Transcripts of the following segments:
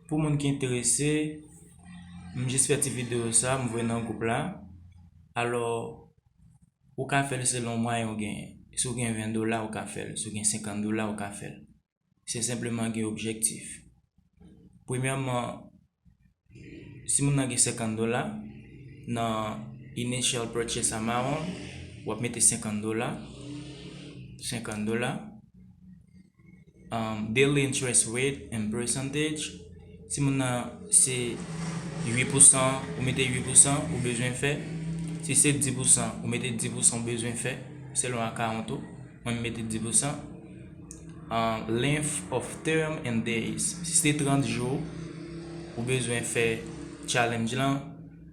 Pou moun ki enterese, m jis fè ti video sa, m voye nan gwoup la. Alò, ou ka fè l selon mwayen ou genyen. Si w gen 20 dola, ou ka fè l. Si w gen 50 dola, ou ka fè l. Se senpleman gen objektif. Premyèman, si moun nan gen 50 dola, nan initial purchase amount, w ap mete 50 dola. 50 dola. Daily interest rate in percentage Si moun nan se 8 pousan ou mete 8 pousan ou bezwen fè Si se 10 pousan ou mete 10 pousan ou bezwen fè Selon akawont ou Mwen mete 10 pousan Length of term in days Si se 30 jou ou bezwen fè challenge lan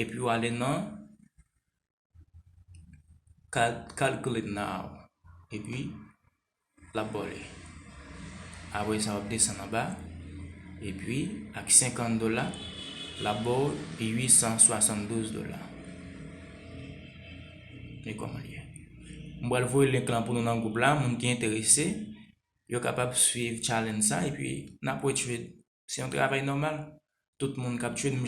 epi ou ale nan calculate now epi lap baw li apre sa wap desann anba epi ak 50 dola lap baw 872 dola e koman li ye m pral voye link lan pou nou nan group la moun ki enterese yo kapab swiv challenge sa epi nap wè trade se yon travay nòmal tout moun kap trade